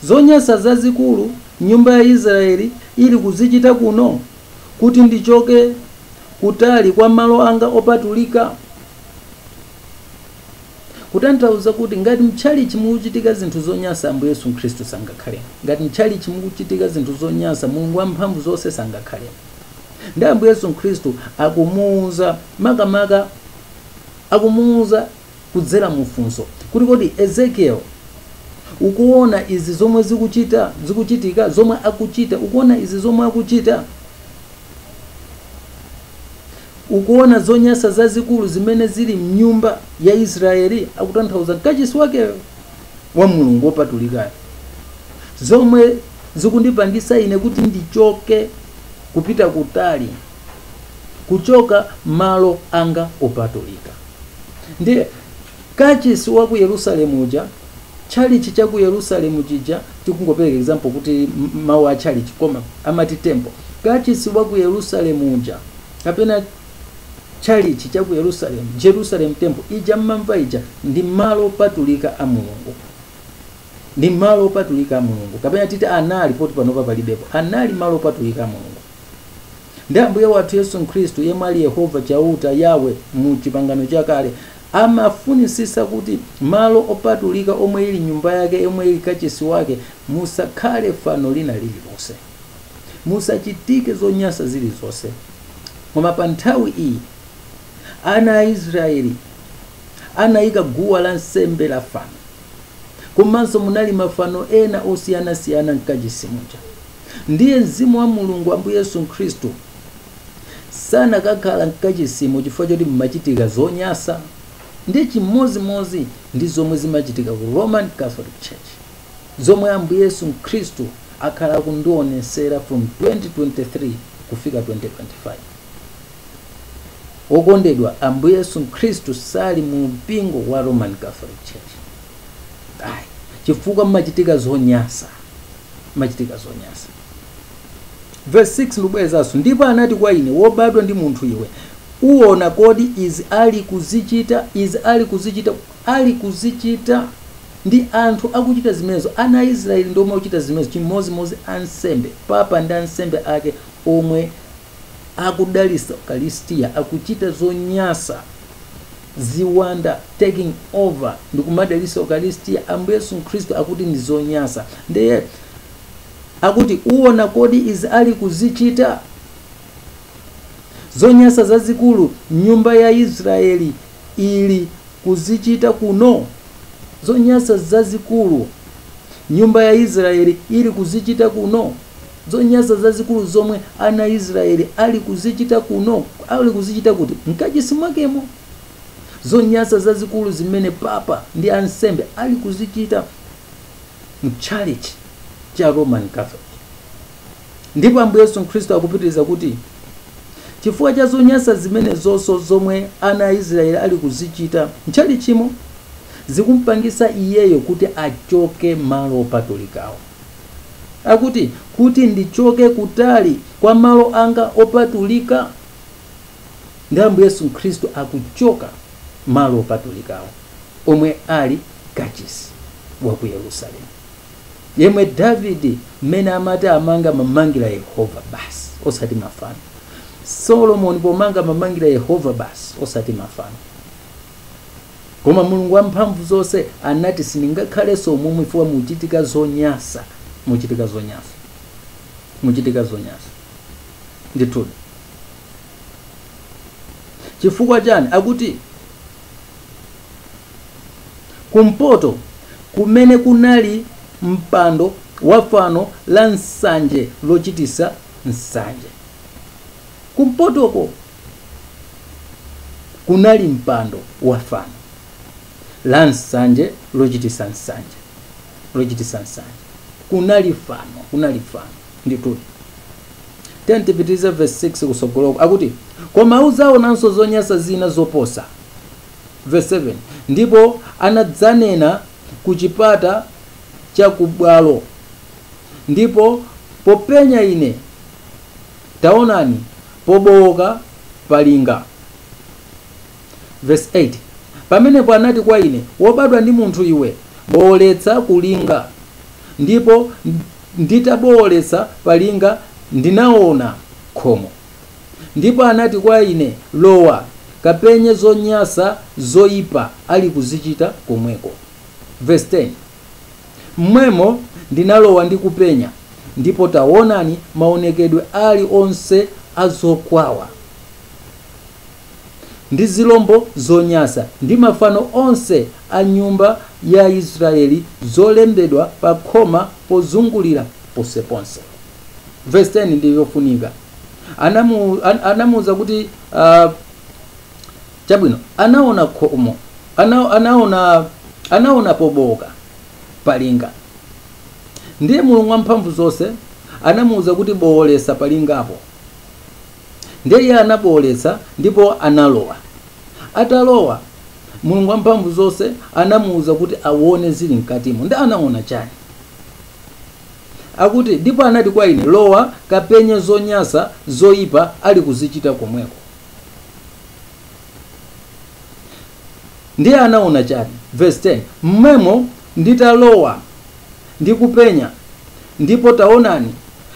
Speaker 1: zonyansa zazikulu nyumba ya Israeli ili kuzichita kuno, kuti ndichoke kutali kwa malo anga opatulika? Kutanthauza kuti ngati mtchalichi mukuchitika zinthu zonyansa Ambuye Yesu Khristu sangakhalemo. Ngati mtchalichi mukuchitika zinthu zonyansa Mulungu wamphamvu zonse sangakhalemo. Nde Ambuye Yesu Khristu akumuuza makamaka akumuuza kudzera mu funso kuti kodi Ezekiel ukuona izi zomwe zikuchita zikuchitika zomwe akuchita ukuona izi zomwe akuchita ukuona zonyasa zazikulu zimene zili mnyumba ya Israeli akutanthauza kachisi wakeyo wa Mulungu wopatulikayo zomwe zikundipangisa ine kuti ndichoke kupita kutali kuchoka malo anga opatulika. Ndiye kachisi wa ku Yerusalemu uja, chalichi cha ku Yerusalemu chija, tikungopereka example kuti mawu a chalichi koma amati temple, kachisi wa ku Yerusalemu uja kapena chalichi cha ku Yerusalemu, Jerusalem temple ija mmamva ija ndi malo opatulika a Mulungu ndi malo opatulika a Mulungu kapena titi anali, poti panopa palibepo, anali malo opatulika a Mulungu. ndi ambuye wathu yesu khristu yemwe ali yehova chauta yawe mu chipangano chakale amafunisisa kuti malo opatulika omwe ili nyumba yake yomwe ili kachisi wake musakhale fano lina lililonse musachitike zonyansa zilizonse koma pa nthawi iyi ana a israeli anayika guwa la nsembe la fano Komanso munali mafano ena osiyanasiyana m'kachisi muja. Ndiye Mzimu wa Mulungu, Ambuye Yesu Khristu, sanakakhala m'kachisimu chifukwa choti mmachitika zonyansa. Ndiye chimozimozi ndi zomwe zimachitika ku Roman Catholic Church, zomwe Ambuye Yesu Khristu akhala akundionesera from 2023 kufika 2025. Okondedwa, Ambuye Yesu Khristu sali mu mpingo wa Roman Catholic Church. Ayi, chifukwa mmachitika zonyansa. Mmachitika zonyansa. Verse 6 ndibwerezanso, ndipo anati kwa ine, wobadwa ndi munthu iwe, uona kodi izi ali kuzichita, izi ali kuzichita, ali kuzichita ndi anthu akuchita zimenezo, ana a Israeli ndi omwe akuchita zimenezo, chimozimozi ansembe, papa ndi ansembe ake omwe akudalisa ukalistia akuchita zonyasa ziwanda taking over ndikumadalisa ukalistia ambuye yesu khristu akuti ndi zonyasa ndiye akuti uona kodi izi ali kuzichita zonyasa zazikulu nyumba ya israeli ili kuzichita kuno? Zonyansa zazikulu nyumba ya Israeli ili kuzichita kuno? Zonyansa zazikulu zomwe ana a Israeli ali kuzichita kuno? Ali kuzichita kuti? Mkachisi mwakemo. Zonyansa zazikulu zimene papa ndi ansembe ali kuzichita mchalichi cha Roman Catholic. Ndipo Ambuye Yesu Khristu akupitiriza kuti, Chifukwa cha zonyansa zimenezonso zomwe ana a Israeli ali kuzichita m'chalichimo, zikum'pangisa iyeyo kuti achoke malo opatulikawo. Akuti, Kuti ndichoke kutali kwa malo anga opatulika? Ndi Ambuye Yesu Khristu akuchoka malo opatulikawo, omwe ali kachisi wa ku Yerusalemu. yemwe davide mmene amati amanga amamangira yehova basi osati mafano solomoni pomanga amamangira yehova basi osati mafano koma mulungu wamphamvu zonse anati sindingakhalenso umomwe chifukwa muchitika zonyasa muchitika zonyasa muchitika zonyasa ndithudi chifukwa chani akuti kumpoto kumene kunali mpando wa fano la nsanje lochitisa nsanje. Kumpotoko kunali mpando wa fano la nsanje lochitisa nsanje lochitisa nsanje. Kunali fano, kunali fano ndithudi. Tiyeni tipitirize verse 6 kusogoloko akuti koma udzaonanso zonyasa zina zoposa. Verse 7 ndipo anadza nane ku chipata cha kubwalo ndipo popenya ine taonani pobooka palinga Verse 8 pamenepo anati kwa ine wobadwa ndi munthu iwe booletsa kulinga ndipo nditabooletsa palinga ndinaona khomo Ndipo anati kwa ine, Lowa, kapenye zonyasa zoipa alikuzichita komweko. Verse 10 M'mwemo ndinalowa ndi kupenya, ndipo taonani, maonekedwe ali onse a zokwawa, ndi zilombo zonyasa, ndi mafano onse a nyumba ya Israyeli zolembedwa pakhoma pozungulira ponseponse. Verse 10 ndi yofunika. anamu, an, anamuuza kuti uh, chabwino anaona khomo ana, anaona anaona pobooka palinga ndiye mulungu wamphamvu zonse anamuuza kuti booletsa palingapo ndiye iye anabooletsa ndipo analowa atalowa mulungu wamphamvu zonse anamuuza kuti awone zili mkatimo ndi anaona chani Akuti, Ndipo anati kwa ine, Lowa, kapenye zonyasa zoipa alikuzichita komweko. Ndiye anaona chani? Verse 10, M'mwemo nditalowa ndi kupenya, ndipo taonani,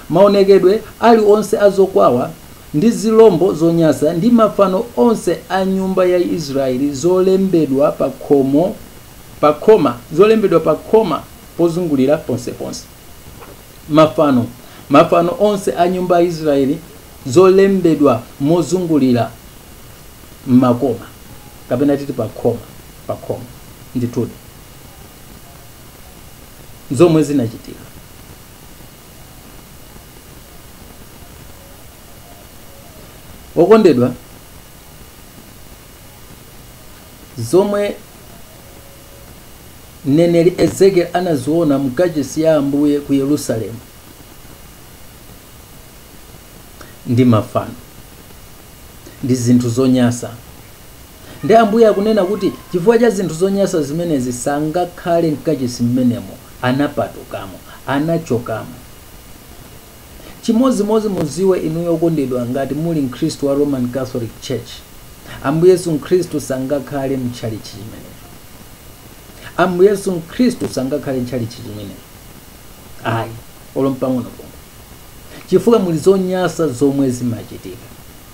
Speaker 1: maonekedwe ali onse a zokwawa, ndi zilombo zonyasa, ndi mafano onse a nyumba ya Israyeli zolembedwa pakhomo, pakhoma, zolembedwa pakhoma. pozungulira ponseponse. Mafano, mafano onse a nyumba ya Israeli, zolembedwa mozungulira m'makoma, kapena titi pakhoma, pakhoma ndithudi, zomwe zinachitika. Okondedwa, zomwe mneneri Ezekieli anaziona mu kachisi ya Ambuye ku Yerusalemu ndi mafano ndi zinthu zonyasa. Ndi Ambuye akunena kuti chifukwa cha zinthu zonyasa zimenezi sangakhale mkachisi mmenemo, anapatukamo, anachokamo. Chimodzimodzi mudziwe inuyo okondedwa ngati muli mkhristu wa Roman Catholic Church, Ambuye Yesu Mkhristu sangakhale mu tchalitchi chimenecho. Ambuye Yesu Mkhristu sangakhale ntchalitchi chimenecho. Ayi, olo mpang'ono pomwe. Chifukwa muli zonyasa zomwe zimachitika.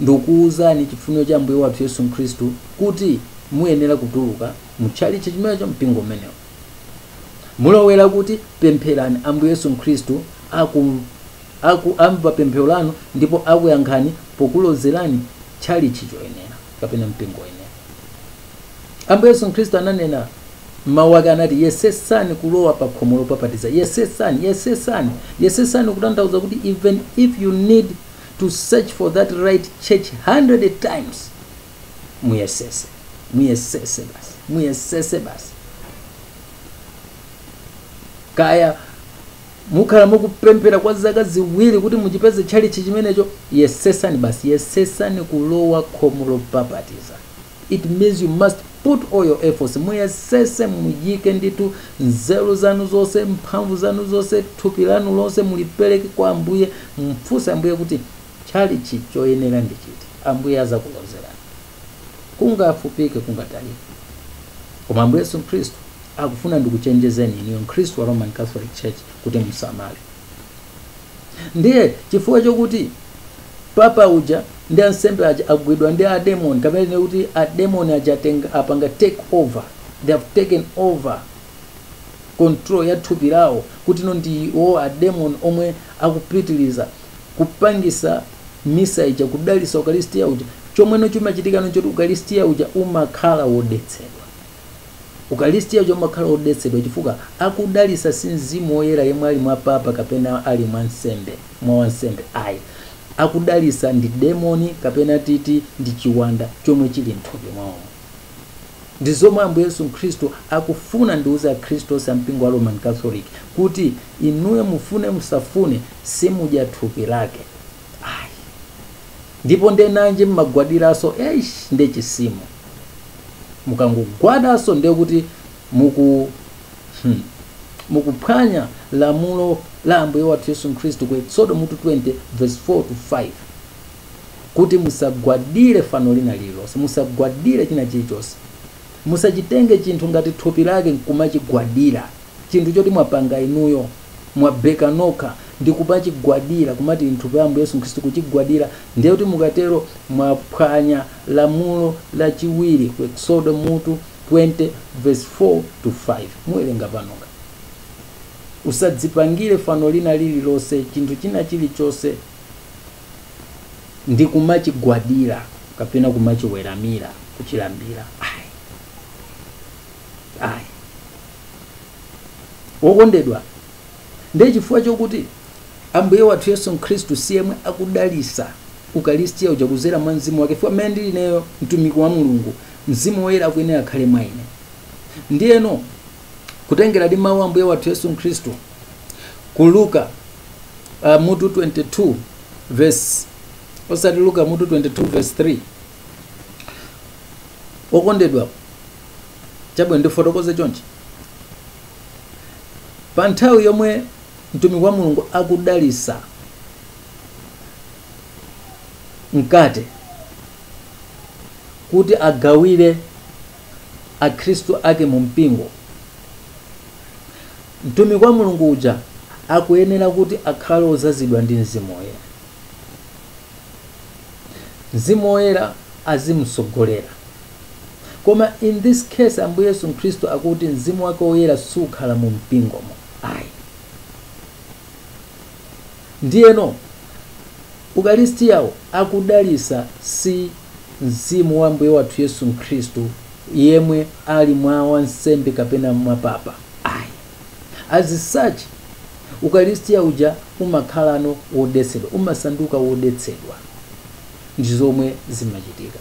Speaker 1: ndikuuzani chifuniro cha Ambuye wathu Yesu Khristu kuti muyenera kutuluka mu tchalitchi chimenecho, mpingo umenewo. Mulowera kuti? Pempherani Ambuye Yesu Khristu aku, aku amva pemphero lanu ndipo akuyankhani pokulozerani tchalitchi choyenera kapena mpingo woyenera. Ambuye Yesu Khristu ananena mawu ake anati yesesani kulowa pa khomo lopapatiza yesesani yesesani yesesani kutanthauza kuti even if you need to search for that right church 100 times muyesese muyesese basi muyesese basi kaya mukhala mukupemphera kwa zaka ziwiri kuti muchipeze tchalichi chimenecho yesesani basi yesesani kulowa khomo lopapatiza It means you must put all your efforts. Muyesese muyike ndithu nzeru zanu zonse, mphamvu zanu zonse, thupi lanu lonse mulipereke kwa Ambuye. Mfunse Ambuye kuti tchalitchi choyenera ndi chiti. Ambuye azakulozerani. Kungafupike, kungatalike. Koma Ambuye Yesu Khristu akufuna ndikuchenjezeni iniyo Mkhristu wa Roman Catholic Church kuti musamale. Ndiye chifukwa chokuti Papa uja ndi ansembe aja agwidwa ndi a demon kapena tinene kuti a demon aja atenga apanga take over they have taken over control ya thupi lawo kuti no ndiwo a demon omwe akupitiliza kupangisa misa ija kudalisa ukalistia uja chomweno chimachitikano nchoti ukalistia uja umakhala wodetsedwa Ukalistia uja umakhala odetsedwa chifukwa akudalisa si mzimu oyera yemwe ali mwa papa kapena ali mwa nsembe mwa wansembe ayi akudalisa ndi demoni kapena titi ndi chiwanda chomwe chili mthupi mwawo ndi zomwe ambuye yesu khristu akufuna ndiuze akhristu onse ampingo wa roman catholic kuti inuyo mufune musafune simudya thupi lake ayi Ndipo nde nanji mmagwadilaso eish nde tchimo mukangogwadaso ndekuti muku hmm mukuphwanya lamulo la ambuye wathu yesu nkhristu ku exodo mutu 20 verse 4 to 5 kuti musagwadile fano lina lililonse musagwadile china chilichonse musachitenge chinthu ngati thupi lake nkumachigwadila chinthu choti mwapanga inuyo, mwabeka nokha, ndi kumachigwadira, kumati nthupi la Ambuye Yesu Khristu, kuchigwadira, ndiye kuti mukatero mwaphwanya lamulo lachiwiri ku Eksodo mutu 20 vesi 4 to 5. Muwerenge panokha. Usadzipangire fano lina lililonse, chinthu china chilichonse, ndi kumachigwadira kapena kumachiweramira, kuchilambira. Ayi. ayi wokondedwa ndiye chifukwa chokuti ambuye wathu yesu khristu si yemwe akudalisa ukalistiya uja kuzera mwa mzimu wake fukwa mmene ndili ineyo mtumiki wa mulungu mzimu woyera akuyenera akhale mwa ine ndiyeno kutengera ndi mawu a ambuye wathu yesu khristu ku luka uh, mutu 22 verse osati luka mutu 22 verse 3 okondedwa chabwino ndifotokoze chonchi pa nthawi yomwe mtumiki wa mulungu akudalisa mkate kuti agawire akhristu ake mu mpingo mtumiki wa mulungu uja akuyenera kuti akhale ozazidwa ndi mzimu woyera Mzimu Woyera azimutsogolera. Koma in this case Ambuye Yesu Khristu akuti Mzimu wake Woyera sukhala mu mpingomo. Ayi. Ndiyeno ukalistiyawo akudalisa si mzimu wa Ambuye wathu Yesu Khristu yemwe ali mwa wansembe kapena mwa papa. As such, Ukaristia uja umakhalano wodetsedwa, umasanduka wodetsedwa ndi zomwe zimachitika.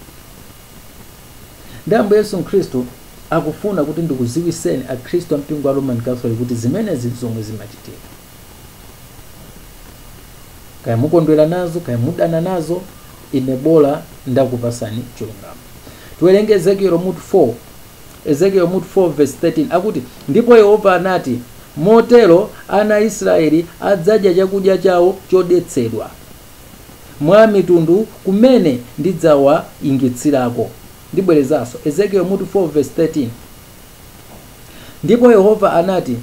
Speaker 1: Nde Ambuye Yesu Mkhristu akufuna kuti ndikuziwiseni Akhristu a mpingo wa Roman Catholic kuti zimenezi ndi zomwe zimachitika. Kaya mukondwera nazo, kaya mudana nazo, ine bola ndakupasani chilungamo. Tiwerenge Ezekiel mutu 4. Ezekieli mutu 4 vesi 13 akuti, Ndipo Yehova anati, Motero ana a Israyeli adzadya chakudya chawo chodetsedwa mwa amitundu kumene ndidzawaingitsirako. Ndibwerezanso, Ezekieli mutu 4 vesi 13. Ndipo Yehova anati,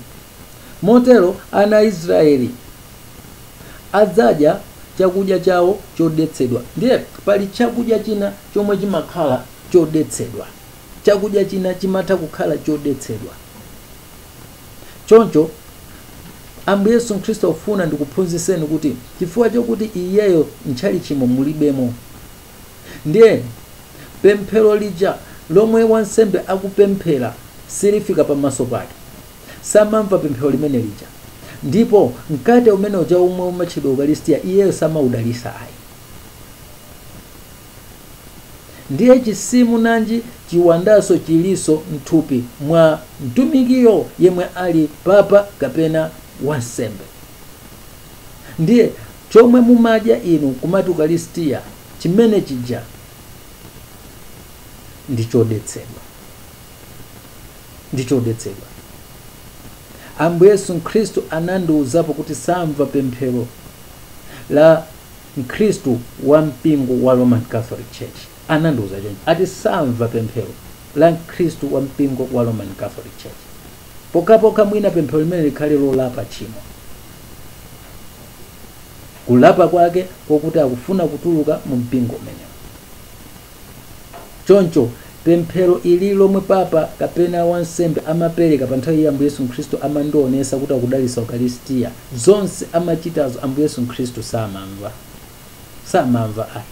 Speaker 1: Motero ana a Israyeli adzadya chakudya chawo chodetsedwa. Ndiye pali chakudya china chomwe chimakhala chodetsedwa. chakudya china chimatha kukhala chodetsedwa. Choncho Ambuye Yesu Khristu akufuna ndikuphunzitseni kuti chifukwa chokuti iyeyo m'tchalitchimo mulibemo, ndiye pemphero lija lomwe wansembe akupemphera silifika pamaso pake, samamva pemphero limene lija, ndipo mkate umene uja womwe umatchedwa ukalistia iyeyo samaudalisa ayi. Ndiye chizimu nanji chiwandaso chiliso mthupi mwa mtumikiyo yemwe ali papa kapena wansembe. Ndiye chomwe mumadya inu kumati ukalistia chimene chija ndi chodetsedwa. Ndi chodetsedwa. Ambuye Yesu Khristu anandiuzapo kuti samva pemphero la. Mkhristu wa mpingo wa Roman Catholic Church anandiuza choncho. Ati samva pemphero la Mkhristu wa mpingo wa Roman Catholic Church pokhapokha mwina pemphero limene likhale lolapa tchimo. Kulapa kwake kokuti akufuna kutuluka mu mpingo umenewo. Choncho, pemphero ili lomwe Papa kapena wansembe amapereka pa nthawi ya Ambuye Yesu Khristu amandionesa kuti akudalisa Ukalistia. Zonse amachitazo Ambuye Yesu Khristu samamva ayi.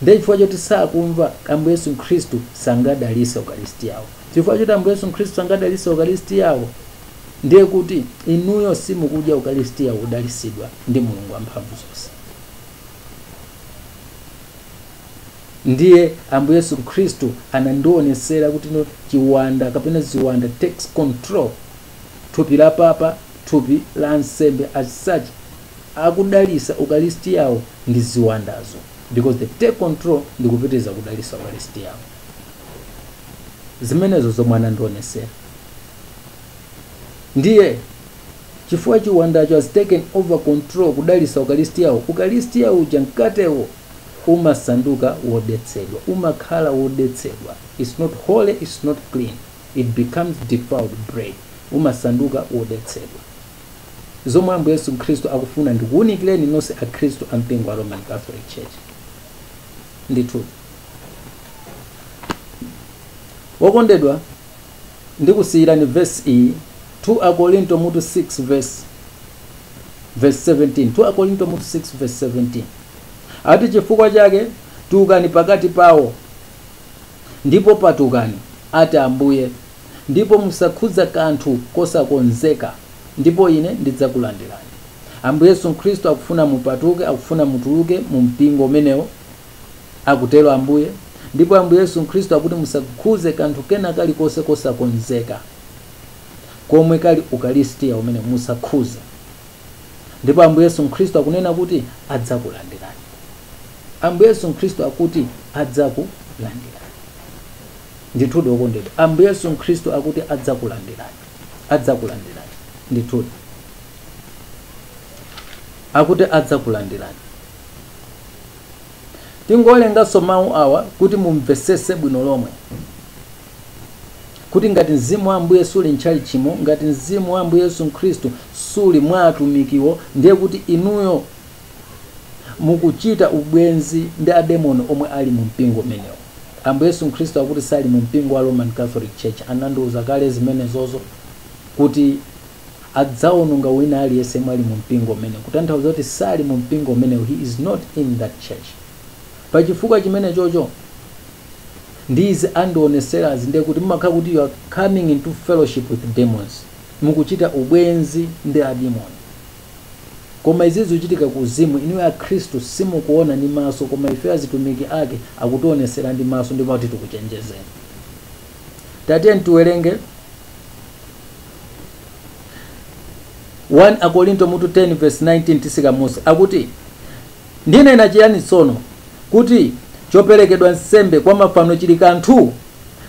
Speaker 1: Ndiye chifukwa choti sakumva, Ambuye Yesu Khristu sangadalise Ukalistiawo. Chifukwa choti Ambuye Yesu Khristu sangadalise Ukalistiawo, ndiye kuti inuyo simukudya Ukalistia wodalisidwa ndi Mulungu Wamphamvu zonse. ndiye ambuye yesu khristu anandionesera kuti no chiwanda kapena ziwanda takes control thupi la papa thupi la ansembe as such akudalisa ukalistiyawo ndi ziwandazo because they take control ndi kupitiriza kudalisa ukalistiyawo zimenezo zomwe anandionesera ndiye Chifukwa chiwandacho has taken over control kudalitsa ukaristiyawo, ukaristiya uja mkatewo umasanduka wodetsedwa, umakhala wodetsedwa, it's not holy, it's not clean, it becomes defiled bread, umasanduka wodetsedwa. Zomwe Ambuye Yesu Khristu akufuna ndikuunikireni nonse akhristu a mpingo wa Roman Catholic Church. Ndithudi. Okondedwa. Ndikusiyirani vesi iyi 2 Akorinto mutu 6 vesi 17 2 Akorinto mutu 6 vesi 17 ati chifukwa chake tulukani pakati pawo ndipo patukani ati ambuye ndipo musakhudza kanthu kosakonzeka ndipo ine ndidzakulandirani ambuye yesu khristu akufuna mupatuke akufuna mutuluke mu mpingo umenewo akutero Ambuye, ndipo Ambuye Yesu Khristu akuti musakhudze kanthu kena kalikonse kosakonzeka komwe kali ukaristiya umene musakhudze. Ndipo Ambuye Yesu Khristu akunena kuti adzakulandirani. Ambuye Yesu Khristu akuti adzakulandirani. Ndithudi okondedwa, Ambuye Yesu Khristu akuti adzakulandirani. Adzakulandirani. Ndithudi. Akuti adzakulandirani. Tingowerenganso mau awa kuti mumvetsetse bwino lomwe, kuti ngati Mzimu wa Ambuye suli m'tchalitchimo, ngati Mzimu wa Ambuye Yesu Khristu suli mwa atumikiwo, ndiye kuti inuyo mukuchita ubwenzi ndi ademoni omwe ali mu mpingo umenewo. Ambuye Yesu Khristu akuti sali mu mpingo wa Roman Catholic Church, anandiuza kale zimenezozo kuti. adzawononga wina aliyense yemwe ali mu mpingo umenewo, kutanthauza kuti sali mu mpingo umenewo, he is not in that church. Pa chifukwa chimenechocho, ndi izi andioneserazi, ndiye kuti mumakhala kuti you are coming into fellowship with demons, mukuchita ubwenzi ndi ademoni. Koma izi zikuchitika ku uzimu, inuyo Akhristu simukuona ndi maso, koma ifeyo azitumiki ake akutionesera ndi maso ndipo akuti tikuchenjezeni. Tatiyeni tiwerenge 1 Akorinto mutu 10 vesi 19 titsika m'munsi akuti, Ndinena chiyani tsono? Kuti choperekedwa nsembe kwa mafano chili kanthu?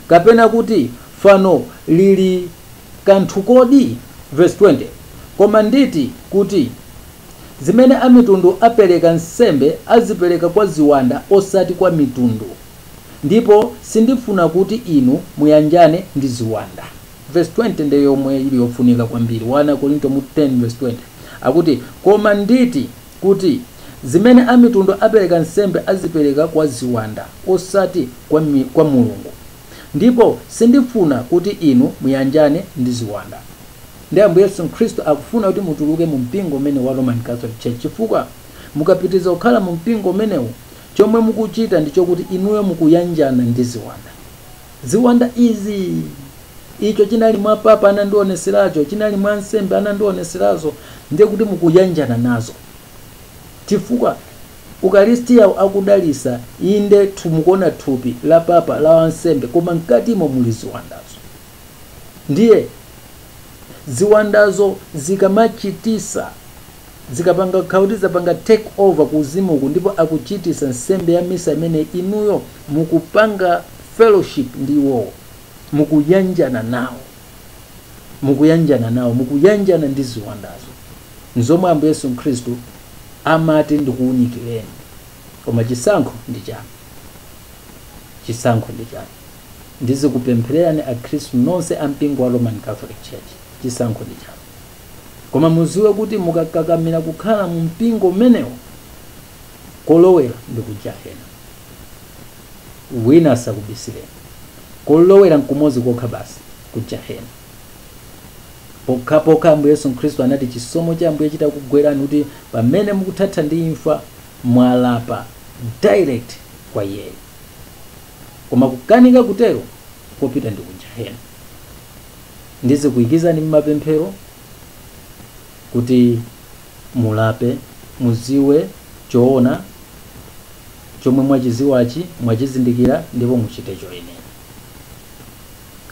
Speaker 1: Kapena kuti fano lili kanthu kodi? Vesi 20 Koma nditi, kuti, zimene amitundu apereka nsembe azipereka kwa ziwanda osati kwa mitundu, ndipo sindifuna kuti inu muyanjane ndi ziwanda. Vesi 20 ndiye yomwe ili yofunika kwambiri, 1 Akorinto 10 vesi 20 akuti, Koma nditi, kuti, zimene amitundu apereka nsembe azipereka kwa ziwanda, osati kwa Mulungu, ndipo sindifuna kuti inu muyanjane ndi ziwanda. Ndiye Ambuye Yesu Khristu akufuna kuti mutuluke mu mpingo umene wa Roman Catholic Church, chifukwa mukapitiriza kukhala mu mpingo umenewu, chomwe mukuchita ndi chokuti inuyo mukuyanjana ndi ziwanda. Ziwanda izi! Icho chinali mwa papa, anandiwoneseracho, chinali mwa ansembe, anandiwoneserazo, ndiye kuti mukuyanjana nazo. Chifukwa? Ukalisitiyawo akudalisa, inde, tu, mukuona, thupi la papa, la wansembe, koma mkatimo muli ziwandazo. Ndiye, ziwandazo zikamachitisa. Zikapanga kukhala kuti zapanga take over ku uzimu uku ndipo akuchitisa nsembe ya misa imene inuyo mukupanga fellowship ndi iwowo. Mukuyanjana nawo. Mukuyanjana nawo. Mukuyanjana ndi ziwandazo. Nzomwe Ambuye Yesu Khristu amati ndikuunikileni. Koma chisankho ndi chanu. Chisankho ndi chanu. Ndizikupemphererani akhristu nonse a mpingo wa Roman Catholic Church. Chisankho ndi chanu. Koma muziwe kuti mukakakamira kukhala mu mpingo umenewo, kolowera ndi ku jahena. Wina asakubisireni. Kolowera nkumozi kokha basi, ku jahena. Pokhapokha Ambuye Yesu Khristu anati chisomo cha Ambuye chitakugwerani kuti pamene mukuthatha ndi imfa mwalapa direct kwa iyeyo. Koma kukanika kutero, kopita ndi ku jahena. ndizikuikizani mmapemphero kuti mulape muziwe choona chomwe mwachiziwachi mwachizindikira ndipo muchite choyenera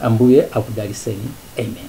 Speaker 1: ambuye akudaliseni amen